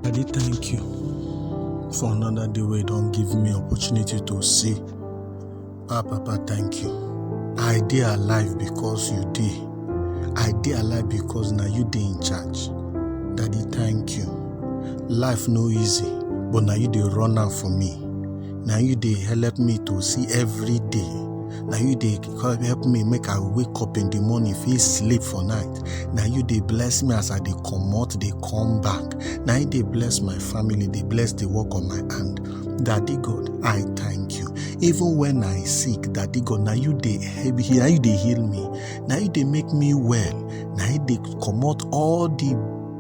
Daddy, thank you for another day where you don't give me opportunity to see. Ah, Papa, thank you. I dey alive because you dey. I dey alive because now you dey in charge. Daddy, thank you. Life no easy, but now you dey run am for me. Now you dey help me to see every day na you dey come help me make i wake up in the morning fit sleep for night na you dey bless me as i dey comot dey come back na you dey bless my family dey bless the work of my hand daddy god i thank you even when i sick daddy god na you dey help me na you dey heal me na you dey make me well na you dey comot all the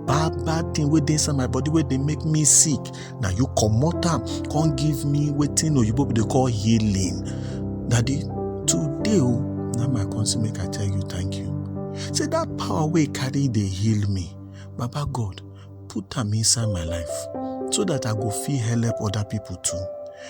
bad bad thing wey dey inside my body wey dey make me sick na you comot am come give me wetin oyibo people dey call healing daddy today o na my come say make i tell you thank you say that power wey carry dey heal me baba god put am inside my life so that i go fit help other people too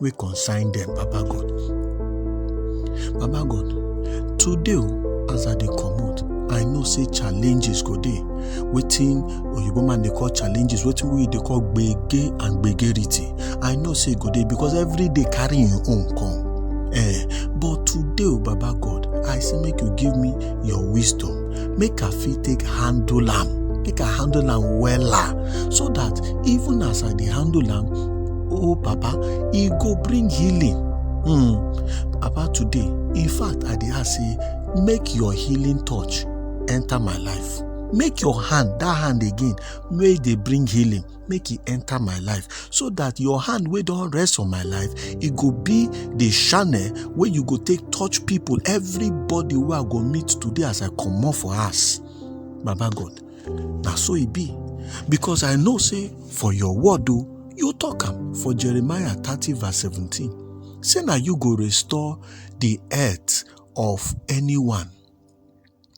wey concern dem, Baba God. Baba God, today o, as I dey comot, I know say challenges go dey. Wetin oyibo man dey call challenges, wetin we dey call gbege and gbegerity. I know say e go dey because every day carry im own come. Eh, but today o, Baba God, I say make you give me your wisdom, make I fit take handle am, make I handle am wella so dat even as I dey handle am, oh papa e go bring healing hmm papa today in fact i dey ask say make your healing touch enter my life make your hand that hand again wey dey bring healing make e enter my life so that your hand wey don rest on my life e go be the channel wey you go take touch people everybody wey i go meet today as i comot for house baba god na so e be because i know say for your word o you talk am for jeremiah thirty verse seventeen say na you go restore the earth of anyone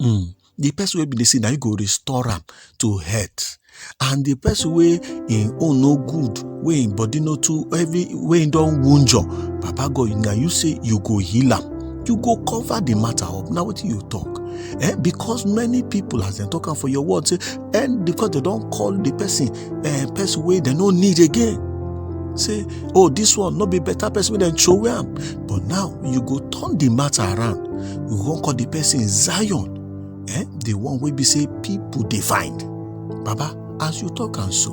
um the person wey be dey say na you go restore am to health and the person wey im own no good wey im body no too heavy wey im don wunjure papa god na you say you go heal am. you go cover the matter up na wetin you talk eh because many people as dem talk am for your word say and because dem don call the person eh person wey dem no need again say oh this one no be better person wey dem throway am but now you go turn the matter around you go come call the person zion eh the one wey be say people dey find baba as you talk am so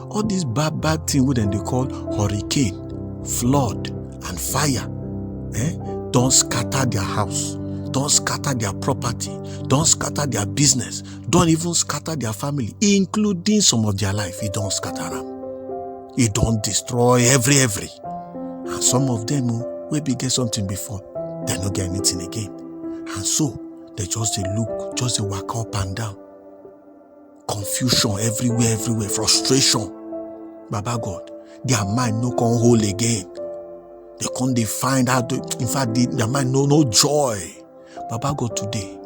all these bad bad thing wey dem dey call hurricane flood and fire eh, don scatter their house don scatter their property don scatter their business don even scatter their family including some of their life e don scatter am e don destroy every every and some of them o wey bin get something before dem no get anything again and so dem just dey look just dey waka up and down confusion everywhere everywhere frustration baba god their mind no come hold again they come dey find how to in fact they, their mind no no joy baba god today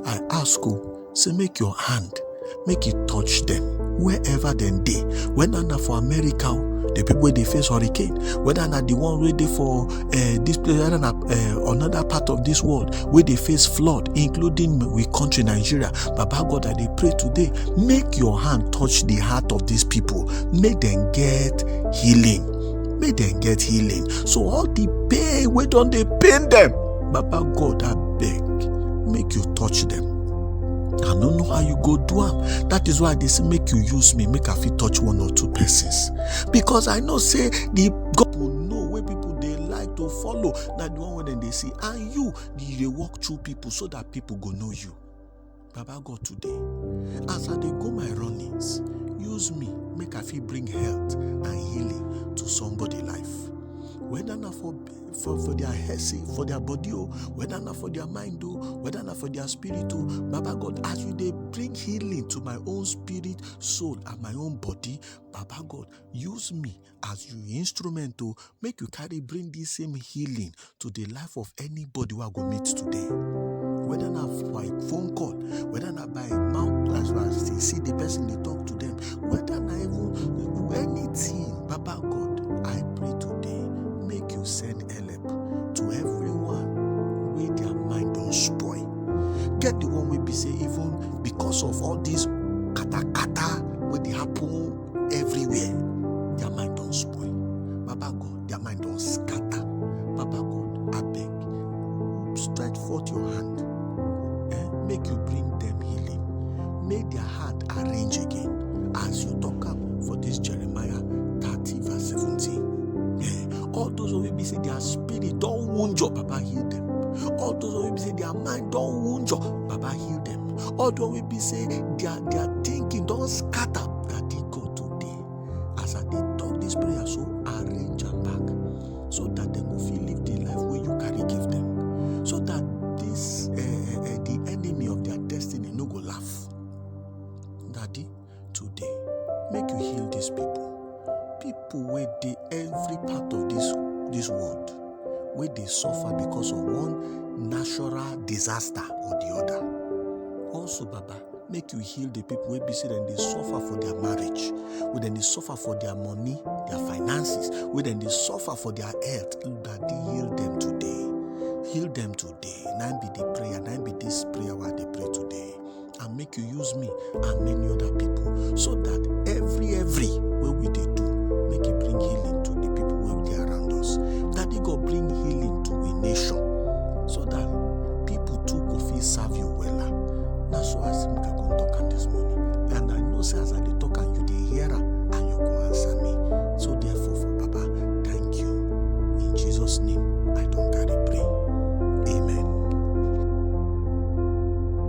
i ask you oh, say make your hand make e touch them wherever dem dey whether na for america oh, the people wey dey face hurricane whether na the one wey dey for uh, this place rather than uh, another part of this world where they face flood including we country nigeria baba god i dey pray today make your hand touch the heart of these people make them get healing make them get healing so all the pain wey don dey pain them baba god abeg make you touch them i no know how you go do am that is why i dey say make you use me make i fit touch one or two persons because i know say the god people dey like to follow na the one wey dem dey see and you you dey walk through people so that people go know you baba god today as i dey go my runnings use me make i fit bring health and healing to somebody life whether na for for for their head say for their body o whether na for their mind o whether na for their spirit o baba god as you dey bring healing to my own spirit soul and my own body baba god use me as you instrument o make you carry bring this same healing to the life of anybody wey i go meet today whether na by phone call whether na by mouth as you as you see the person dey talk to them whether na even anything baba god i pray today make you send help to everyone wey their mind don spoil get the one wey be say even because of all this everywhere their mind don spoil baba god their mind don scatter baba god abeg stretch forth your hand eh, make you bring them healing make their heart arrange again as you talk am for this jeremiah thirty verse seventeen eh, all those wey be say their spirit don wound your papa heal them all those wey be say their mind don wound your papa heal them. all the one wey be say their their thinking don scatter that dey go today as i dey talk this prayer so arrange am back so that dem go fit live the life wey you carry give them so that this uh, uh, the enemy of their destiny no go laugh daddy today make you heal dis pipo pipo wey dey every part of dis world wey dey suffer because of one natural disaster or di oda also baba make you heal di pipo wey be say dem dey suffer for dia marriage wey dem dey suffer for dia money dia finances wey dem dey suffer for dia health daddy heal dem today heal dem today na im be di prayer na im be dis prayer wey i dey pray today and make you use me and many other people so that every every wey we dey do make e bring healing to the people wey dey around us daddy god bring healing to a nation so that people too go fit serve you wella na so i see make i come talk am this morning and i know say as i dey talk am you dey hear am and you go answer me so therefore for papa thank you in jesus name i don carry pray amen.